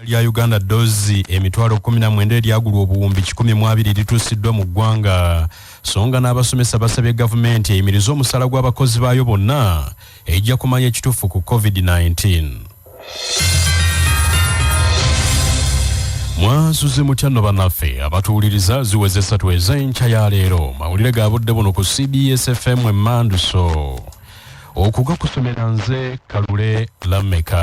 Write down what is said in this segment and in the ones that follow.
Eddagala lya Uganda doozi emitwalo kkumi na mwenda eryagulwa obuwumbi kikumi mu abiri lituusiddwa mu ggwanga so nga n'abasomesa basabye gavumenti eyimirize omusaala gw'abakozi baayo bonna ejja kumanya ekituufu ku COVID-19. mwasuze mutya no banaffe abatuwuliriza ziweze esatu ez'enkya ya leero mawulire ga budde buno ku cbs fm emmanduso okugakusomera nze kalule lameka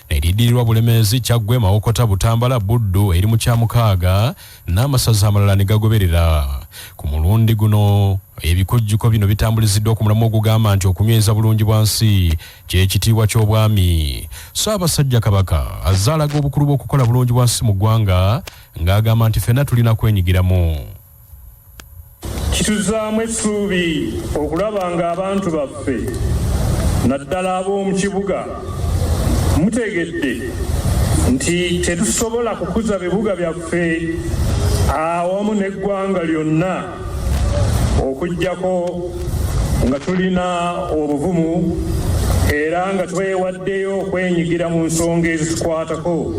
eriddirirwa Bulemeezi, Kyaggwe, Mawokota, Butambala, Buddu eri mu kyamukaaga n'amasaza amalala ne gagoberera. Ku mulundi guno ebikujjuko bino bitambuliziddwa ku mulamwa ogugamba nti okunyweza bulungi bwa nsi kye kitiibwa ky'obwami. Ssaabasajja Kabaka azze alaga obukulu bw'okukola bulungi bwa nsi mu ggwanga ng'agamba nti ffenna tulina kwenyigiramu. Kituzzaamu essuubi okulaba ng'abantu baffe naddala ab'omu kibuga mutegedde nti tetusobola kukuza bibuga byaffe awamu n'eggwanga lyonna okuggyako nga tulina obuvumu era nga twewaddeyo okwenyigira mu nsonga ezitukwatako.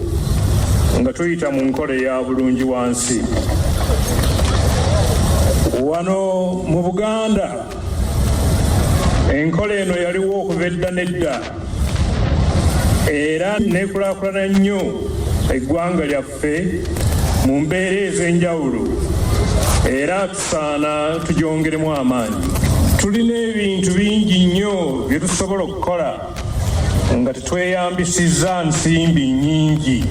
nga tuyita mu nkola eya bulungi wansi wano mu buganda enkola eno yaliwo okuva edda nedda era nekulakulana nnyo eggwanga lyaffe mu mbeera ez'enjawulo era tusaana tugyongeremu amaanyi tulina ebintu bingi nnyo bye tusobola okukola nga tetweyambisizza nsimbi nnyingi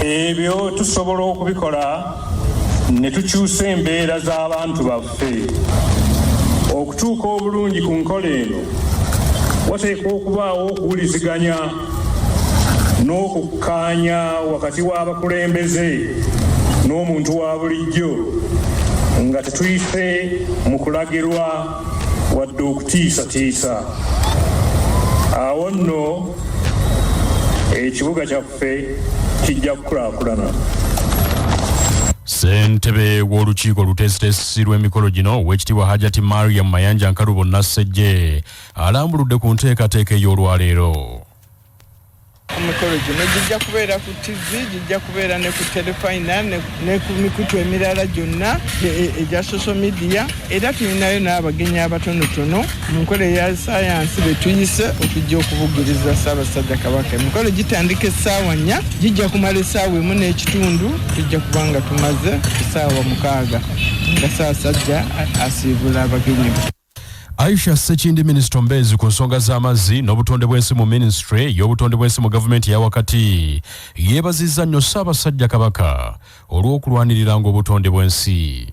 ebyo tusobola okubikola ne tukyusa embeera z'abantu baffe okutuuka obulungi ku nkola eno wateekwa okubaawo okuwuliziganya n'okukkaanya wakati w'abakulembeze n'omuntu wa bulijjo nga tetuyise mu kulagirwa wadde okutiisatiisa awo nno ekibuga kyaffe kijja kukulaakulana ssentebe w'olukiiko oluteesiteesi lw'emikolo gino ow'ekitiibwa hajati mariam mayanja nkalubo nassejje alambuludde ku nteekateeka ey'olwaleero Emikolo gino gijja kubeera ku ttivi, gijja kubeera ne ku terefayina ne ku mikutu emirala gyonna e, e, egya social media era tulinayo n'abagenyi abatonotono mu nkola eya sayansi be tuyise okujja okubugiriza Ssaabasajja Kabaka. Emikolo gitandika essaawa nnya, gijja kumala essaawa emu n'ekitundu, tujja kuba nga tumaze essaawa mukaaga nga Ssaabasajja asiibula abagenyi be. Aisha Sekindi minisita omubeezi ku nsonga z'amazzi n'obutonde bw'ensi mu minisitule y'obutonde bw'ensi mu gavumenti eya wakati yeebazizza nnyo Ssaabasajja Kabaka olw'okulwaniriranga obutonde bw'ensi.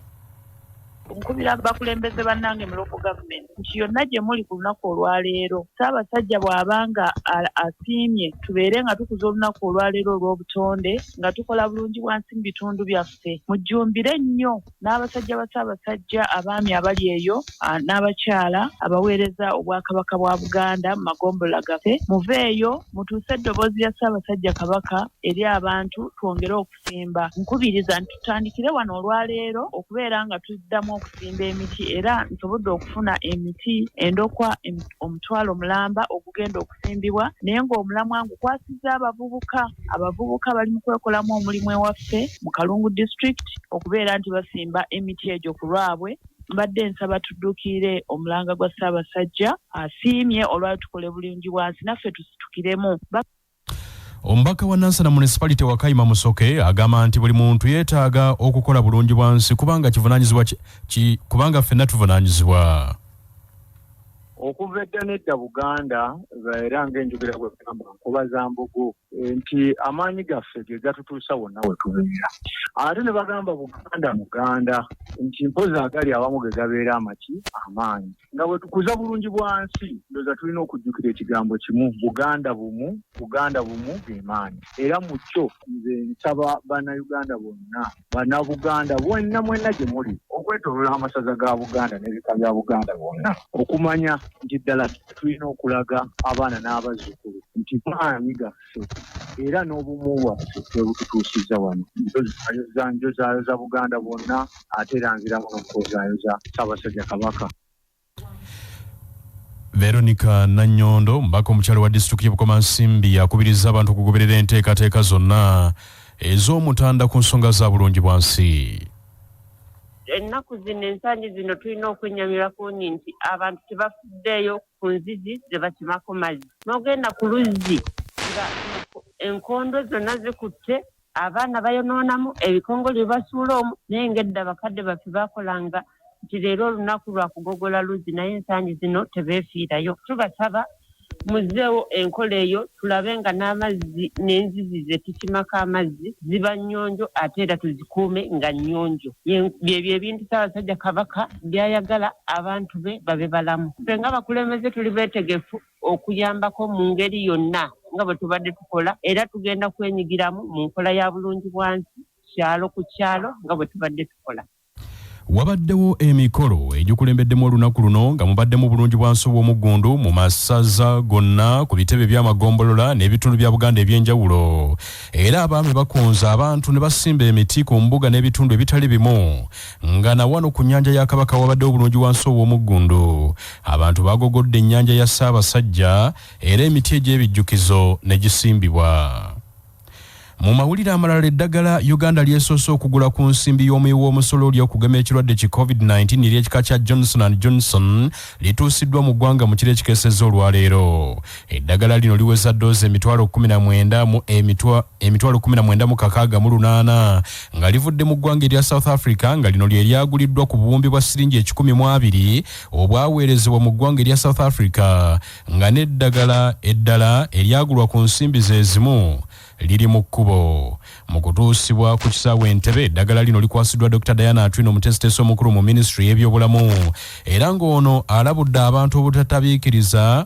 nkubira bakulembeze bannange mu local government nti yonna gye muli ku lunaku olwaleero ssaabasajja bw'aba nga asiimye tubeere nga tukuza olunaku olwaleero olw'obutonde nga tukola bulungi bwansi mu bitundu byaffe mujjumbire nnyo n'abasajja ba Ssaabasajja, abaami abali eyo, n'abakyala abaweereza Obwakabaka bwa Buganda mu magombolola gaffe, muveeyo mutuuse eddoboozi lya Ssaabasajja Kabaka eri abantu twongere okusimba. Nkubiriza nti tutandikire wano olwaleero okubeera nga tuddamu okusimba emiti era nsobodde okufuna emiti endokwa omutwalo mulamba ogugenda okusimbibwa naye ng'omulamwa ngukwasizza abavubuka. Abavubuka bali mu kwekolamu omulimu ewaffe mu Kalungu District okubeera nti basimba emiti egyo ku lwabwe mbadde nsaba tudduukirire omulanga gwa Ssaabasajja asiimye olwali tukole bulungi bwansi naffe tusitukiremu. Omubaka wa Nansana Municipality Wakayima Musoke agamba nti buli muntu yeetaaga okukola bulungi bwansi kubanga kivunanyizibwa kubanga ffenna tuvunanyizibwa. Okuva edda n'edda Buganda era ng'enjogera bwegamba nkuba za mbogo eh, nti amaanyi gaffe ge gatutuusa wonna we tubeera. Ate ne bagamba Buganda muganda nti mpozi agali awamu ge gabeera amaki amaanyi. Nga bwe tukuza bulungi bwa nsi, ndoza tulina okujjukira ekigambo kimu, Buganda bumu, Buganda bumu ge maanyi. Era mu kyo nze nsaba Bannayuganda bonna Bannabuganda bwenna mwenna gye muli okwetooloola amasaza ga Buganda n'ebika bya Buganda bwonna okumanya nti ddala tulina okulaga abaana n'abazzukulu nti maanyi gaffe era n'obumu bwaffe bwe bututuusizza wano. Njozayoza njozaayoza Buganda bwonna ate era nziramu n'okukozayoza Ssaabasajja Kabaka. Veronica Nanyondo mbaka omukyalo wa disitulikiti y'e Bukomansimbi yakubirizza abantu okugoberera enteekateeka zonna ez'omutanda ku nsonga za bulungi bwansi. Ennaku zino ensangi zino tulina okwennyamira ku nyi nti abantu tebafuddeeyo ku nzizi ze bakimako mazzi. N'ogenda ku luzzi nga enkondo zonna zikutte Abaana bayonoonamu, ebikongole bye basuula omwo, naye ng'edda bakadde baffe baakolanga nti leero olunaku lwa kugogola luzzi naye ensangi zino tebeefiirayo. Tubasaba muzzeewo enkola eyo tulabe nga n'amazzi n'enzizi ze tusimako amazzi ziba nnyonjo ate era tuzikuume nga nnyonjo. Byebyo ebintu Ssaabasajja Kabaka by'ayagala abantu be babe balamu. Ffe ng'abakulembeze tuli beetegefu okuyambako mu ngeri yonna nga bwe tubadde tukola era tugenda kwenyigiramu mu nkola ya bulungi bwansi kyalo ku kyalo nga bwe tubadde tukola. Wabaddewo emikolo egikulembeddemu olunaku luno nga mubaddemu bulungi bwansi obw'omuggundu mu masaza gonna ku bitebe by'amagombolola n'ebitundu bya Buganda eby'enjawulo era abaami bakunze abantu ne basimba emiti ku mbuga n'ebitundu ebitali bimu nga na wano ku nnyanja ya kabaka wabadde obulungi wansi ow'omuggundu abantu bagogodde ennyanja ya ssaabasajja era emiti egy'ebijjukizo ne gisimbibwa mu mawulire amalala eddagala uganda lyesoose okugula ku nsimbi y'omuyi w'omusolo oli okugema ekirwadde ki covid-19 ery'ekika kya johnson and johnson lituusiddwa mu ggwanga mu kiro ekikeseza olwaleero eddagala lino liweza doozi emitwalo 19 mu emitwa emitwalo kumi na mwenda mu kakaaga mu lunaana nga livudde mu ggwanga erya south africa nga lino lye lyaguliddwa ku buwumbi bwa siringi ekikumi mu abiri obwaweerezebwa mu ggwanga erya south africa nga n'eddagala eddala eryagulwa ku nsimbi ze zimu liri mu kkubo mu kutuusibwa ku kisaawe entebe eddagala lino likwasiddwa dr diana atwino omuteesiteesi omukulu mu minisitule y'ebyobulamu era ng'ono alabudde abantu obutatabiikiriza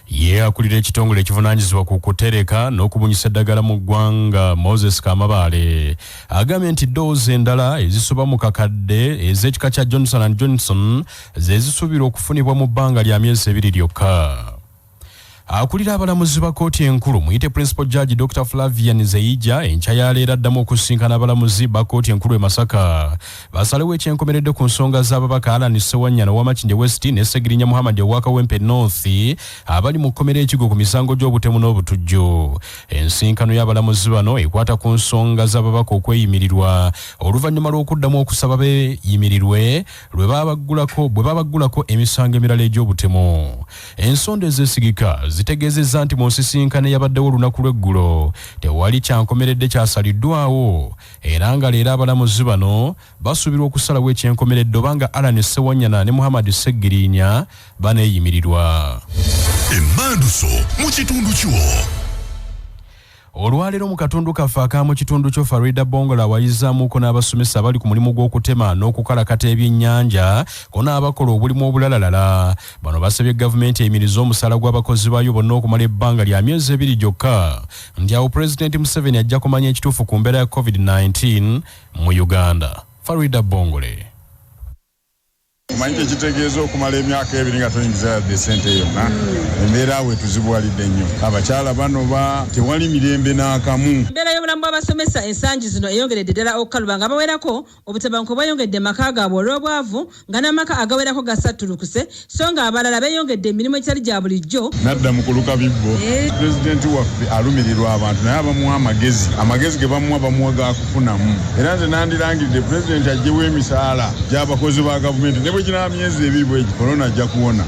Ye akulira ekitongole ekivunaanyizibwa ku kutereka n'okubunyisa eddagala mu ggwanga Moses Kamabaale agambye nti ddoozi endala ezisoba mu kakadde ez'ekika kya Johnson and Johnson ze zisuubirwa okufunibwa mu bbanga lya myezi ebiri lyokka. Akulira abalamuzi ba kkooti enkulu muyite Principal Judge Dr Flavian Zeija enkya ya leero addamu okusisinkana abalamuzi ba kkooti enkulu e Masaka basalewo ekyenkomeredde ku nsonga z'ababaka Alan Sewanyana owa Makindye West ne Segirinya Muhammad owa Kawempe North abali mu kkomera ekigo ku misango gy'obutemu n'obutujju. Ensinkano y'abalamuzi bano ekwata ku nsonga z'ababaka okweyimirirwa oluvannyuma lw'okuddamu okusaba beeyimirirwe lwe babaggulako bwe babaggulako emisango emirala egy'obutemu. Ensonda ezeesigika zitegeezezza nti mu nsisinkano eyabaddewo olunaku lw'eggulo tewali kyankomeredde kyasaliddwawo era nga leero abalamuzi bano basuubirwa okusalawo ekyenkomeredde oba nga Allan Ssewanyana ne Muhammad Ssegiriinya baneeyimirirwa. Emmanduso mu kitundu kyo. Olwaleero mu katundu kaffe akaamu kitundu kyo Farida Bongola awayizaamuko n'abasomesa abali ku mulimu gw'okutema n'okukalakata ebyennyanja ko n'abakola obulimu obulalalala Bano basabye gavumenti eyimirize omusaala gw'abakozi baayo bonna okumala ebbanga lya myezi ebiri gyokka nti awo Pulezidenti Museveni ajja kumanya ekituufu ku mbeera ya COVID-19 mu Uganda. Farida Bongole. Omanyi kye kitegeeza okumala emyaka ebiri nga toyingiza yadde ssente yonna? Embeera awo etuzibuwalidde nnyo. Abakyala banoba, tewali mirembe n'akamu. Embeera y'obulamu bw'abasomesa ensangi zino eyongeredde ddala okukaluba nga bawerako Obutabanguko bweyongedde mu maka gaabwe olw'obwavu nga n'amaka agawerako gasattulukuse so nga abalala beyongedde emirimu egitali gya bulijjo. Nadda mu kuluka bibbo. Pulezidenti waffe alumirirwa abantu naye abamuwa amagezi, amagezi ge bamuwa bamuwa ga kufunamu era nze nandirangiridde Pulezidenti aggyewo emisaala gy'abakozi ba Gavumenti ne bwe ginaaba myezi ebiri bwe gityo Corona ajja kuwona.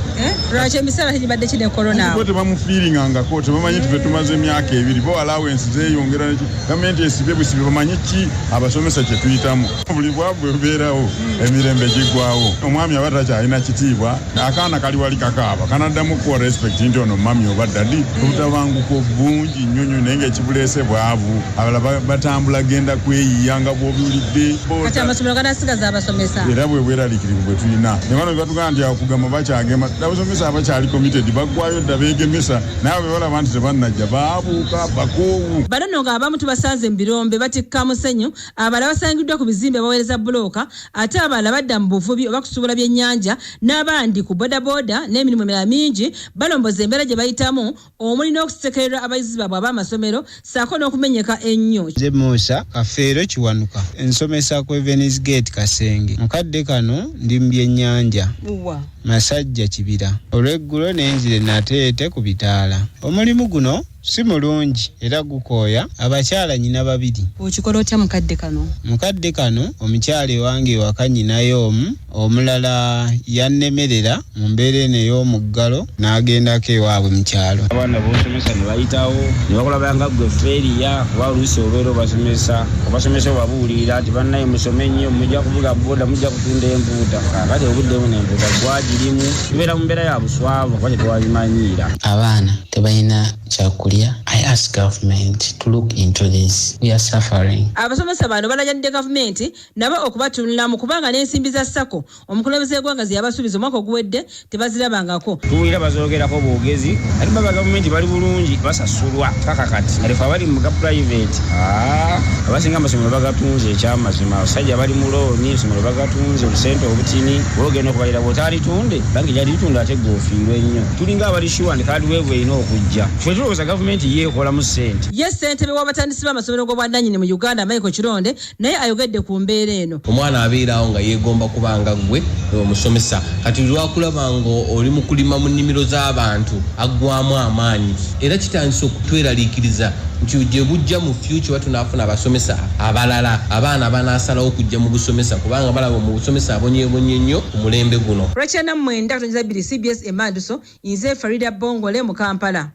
Lwaki emisaala tegibadde ki ne Corona awo? Bo tebamufiiringangako, tebamanyi nti ffe tumaze emyaka ebiri, bo allowance zeeyongera ne ki. Gavumenti esibe busibe bamanye ki abasomesa kye tuyitamu. Buli bwavu bwe bubeerawo emirembe giggwawo. Omwami aba takyalina kitiibwa, akaana kali wali kakaaba kanaddamu kuwa respect nti ono mami oba dadi. Obutabanguko bungi nnyo nnyo naye ng'ekibuleese bwavu. Abalala batambula genda kweyiiya nga bw'obiwulidde. Kati amasomero ganaasigaza abasomesa? Era bwe bweraliikirivu bwe tulina. Ne bano be batugamba nti okugema bakyagema, abasomesa abakyali committed baggwayo dda beegemesa. naye bwe balaba nti tebannajja baabuuka bakoowu. Bano nno ng'abamu tubasanze mu birombe batikka musenyu, abalala basangiddwa ku bizimbe baweereza bbulooka ate abalala badda mu buvubi oba kusuubula byennyanja n'abandi ku bodaboda n'emirimu emirala mingi balomboza embeera gye bayitamu omuli n'okusekererwa abayizi baabwe ab'amasomero saako n'okumenyeka ennyo. Nze Musa Kafeero Kiwanuka, nsomesa ku Evens Gate Kasenge. Mu kadde kano ndi mu byennyanja. Wa. Masajja Kibira. Olw'eggulo ne nzira e Nateete ku bitaala. Omulimu guno si mulungi era gukooya abakyala nnyina babiri. Okikola otya mu kadde kano? Mu kadde kano omukyala ewange ewaka nnyinayo omu. Omulala yannemerera mu mbeera eno ey'omuggalo n'agendako ewaabwe mu kyalo. Abaana b'osomesa ne bayitawo ne bakulaba nga ggwe ffeeriya kuba oluusi obeera obasomesa obasomesa obabuulirira nti bannaye musome nnyo mujja kuvuga boda mujja kutunda empuuta kaakati obudde buno empuuta gwagirimu tubeera mu mbeera ya buswavu kuba tetwabimanyiira. Abaana tebalina kyakulya I ask government to look into this we are suffering. Abasomesa bano balajanidde gavumenti nabo okubatunulamu kubanga n'ensimbi za sacco omukulembeze w'eggwanga ze yabasuubiza omwaka oguwedde tebazirabangako. Tuwulira bazoogerako boogezi ate baba gavumenti bali bulungi basasulwa paka kati kale fe abali mu ga pulayiveeti haa abasinga amasomero bagatunze ekyamazima abasajja bali mu looni essomero bagatunze obusente obutini bwogenda okubalira bw'otaalitunde bangi gyalitunda ate gwe ofiirwe nnyo tulinga abali shuwa nti kaadiweevu erina okujja fe tulowooza gavumenti ye ekolamu ssente. Ye ssentebe w'abatandisi b'amasomero g'obwannannyini mu Uganda Michael Kironde, naye ayogedde ku mbeera eno. Omwana abeera awo nga yeegomba kuba nga ggwe omusomesa. Kati lwakulaba nga oli mu kulima mu nnimiro z'abantu aggwamu amaanyi era kitandise okutweraliikiriza nti gye bujja mu fyukya oba tunaafuna abasomesa abalala abaana banaasalawo okujja mu busomesa kubanga balaba mu busomesa abonyeebonye nnyo ku mulembe guno. Rachel Namwenda, katonnyeza bbiri, cbs e Manduso, Nze Faridah Bongole mu Kampala.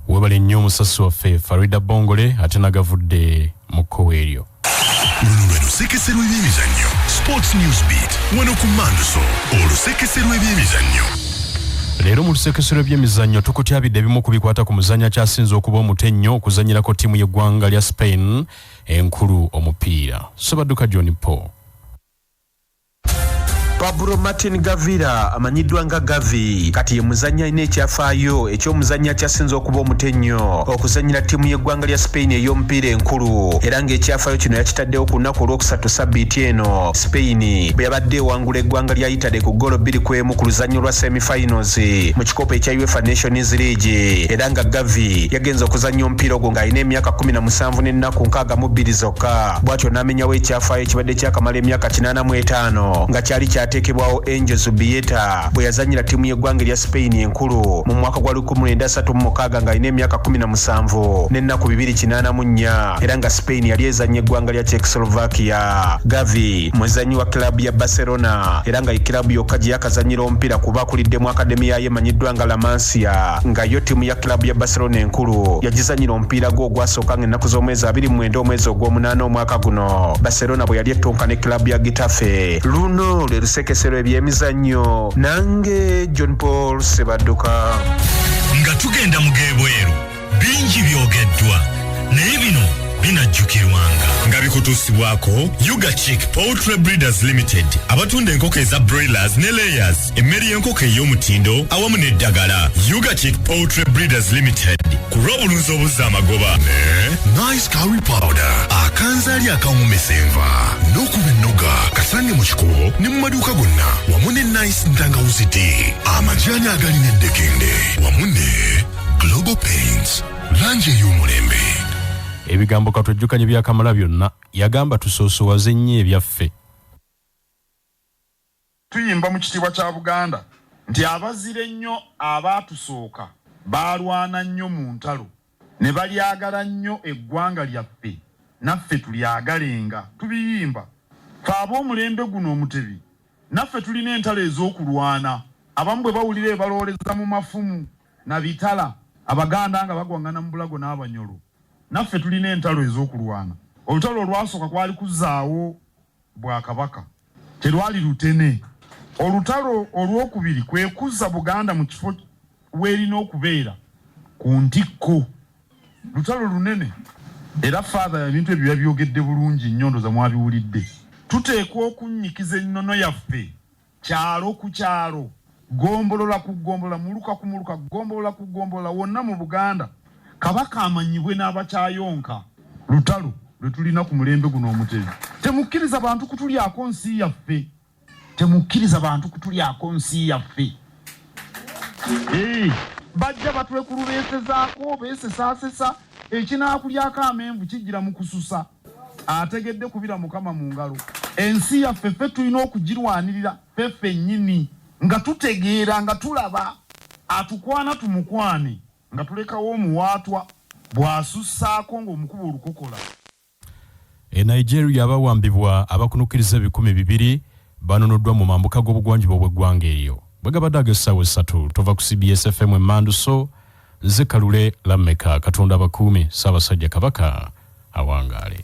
Webale nnyo omusasi waffe Farida Bongole ate nagavudde mu kkowe eryo. Luno lwe lusekese lw'ebyemizannyo Sports News Beat wano ku Manduso olusekese lw'ebyemizannyo. Leero mu lusekesero by'emizannyo tukutyabidde ebimu ku bikwata ku muzannyo akyasinze okuba omuto ennyo okuzannyirako ttiimu y'eggwanga lya Spain enkulu omupiira. Ssebadduka John Paul. Pablo Martin Gavira amanyiddwa nga Gavi kati ye muzannyi alina ekyafaayo eky'omuzannyi akyasinze okuba omuto ennyo okuzannyira ttiimu y'eggwanga lya Spain ey'omupiira enkulu era ng'ekyafaayo kino yakitaddewo ku lunaku olwokusatu sabbiiti eno Spain bwe yabadde ewangula eggwanga lya Italy ku ggoolo bbiri ku emu ku luzannya olwa semifinals mu kikopo ekya UEFA Nations League era nga Gavi yagenze okuzannya omupiira ogwo ng'alina emyaka kkumi na musanvu n'ennaku nkaaga mu bbiri zokka. bw'atyo n'amenyawo ekyafaayo ekibadde kyakamala emyaka kinaana mu etaano nga kyali kyateekebwawo angel zubieta bwe yazanyira ttiimu y'eggwanga erya spain enkulu mu mwaka gwa 1936 ng'alina emyaka 17 n'ennaku 294 era nga spain yali ezannya eggwanga lya czechoslovakia gavi muzannyi wa kilabu ya barcelona era nga ye kilabu yokka gye yakazannyira omupiira kuba akuliddemu akademi yayo emanyiddwa nga lamansia nga yo ttiimu ya kilabu ya barcelona enkulu yagizannyira mupiira gwe ogwasooka nga ennaku z'omwezi abiri mu mwenda omwezi ogw'omunaana omwaka guno barcelona bwe yali ettunka ne club ya gitafe luno lwe lusekesero ebyemizannyo nange john paul sebadduka nga tugenda mu g'ebweru bingi byogeddwa naye bino binajjukirwanga nga bikutuusibwako ugachik poultry breeders limited abatunda enkoko eza broilers ne layers emmere y'enkoko ey'omutindo awamu n'eddagala ugachick poultry breeders limited ku lw'obulunzi obuzza amagoba ne nice curry powder akanzaali akawuumisa enva n'okuba ennoga kasange mu kikubo ne mu maduuka gonna wamu ne nice ntangawuzi ti amajaani agali n'eddekende wamu ne global paints langi ey'omulembe ebigambo katwejjukanye byakamala byonna yagamba tusoosowaze nnyo ebyaffe Tuyimba mu kitiibwa kya Buganda nti abazira ennyo abaatusooka baalwana nnyo mu ntalo ne balyagala nnyo eggwanga lyaffe naffe tulyagalenga. Tubiyimba. Ffe ab'omulembe guno Omutebi naffe tulina entalo ez'okulwana. Abamu bwe bawulira ebalooleza mu mafumu na bitala, Abaganda nga bagwang'ana mu bulago n'Abanyolo. Naffe tulina entalo ez'okulwana. Olutalo olwasooka kwali kuzaawo Bwakabaka. Terwali lutene. Olutalo olw'okubiri kwe kuzza Buganda mu kifo w'erina okubeera, ku ntikko. Lutalo lunene. Era Father ebintu ebyo yabyogedde bulungi nnyo ndoza mwabiwulidde. Tuteekwa okunnyikiza ennono yaffe kyalo ku kyalo. Ggombolola ku ggombolola, muluka ku muluka, ggombolola ku ggombolola, wonna mu Buganda, Kabaka amanyibwe n'abakyayonka. Lutalo lwe tulina ku mulembe guno Omutebi. Temukkiriza bantu kutulyako nsi yaffe. Temukkiriza bantu kutulyako nsi yaffe. Eeh. Bajja batwekulubeesezaako, beesesaasesa, ekinaakulyako amenvu kijjira mu kususa. ategedde kubira mukama mu ngalo ensi yaffe ffe tulina okugirwanirira ffeffe nnyini nga tutegeera nga tulaba atukwana tumukwane nga tulekawo omuwaatwa bw'asussaako ng'omukuba olukokola e nigeria abawambibwa abakunukiriza ebikumi bibiri banunuddwa mu mambuka g'obugwanjuba obw'eggwanga eryo. Bwe gabadde ag'essaawa essatu tova ku cbs FM emmandu so nze Kalule Lammeka Katonda abakuume Ssaabasajja Kabaka awangaale.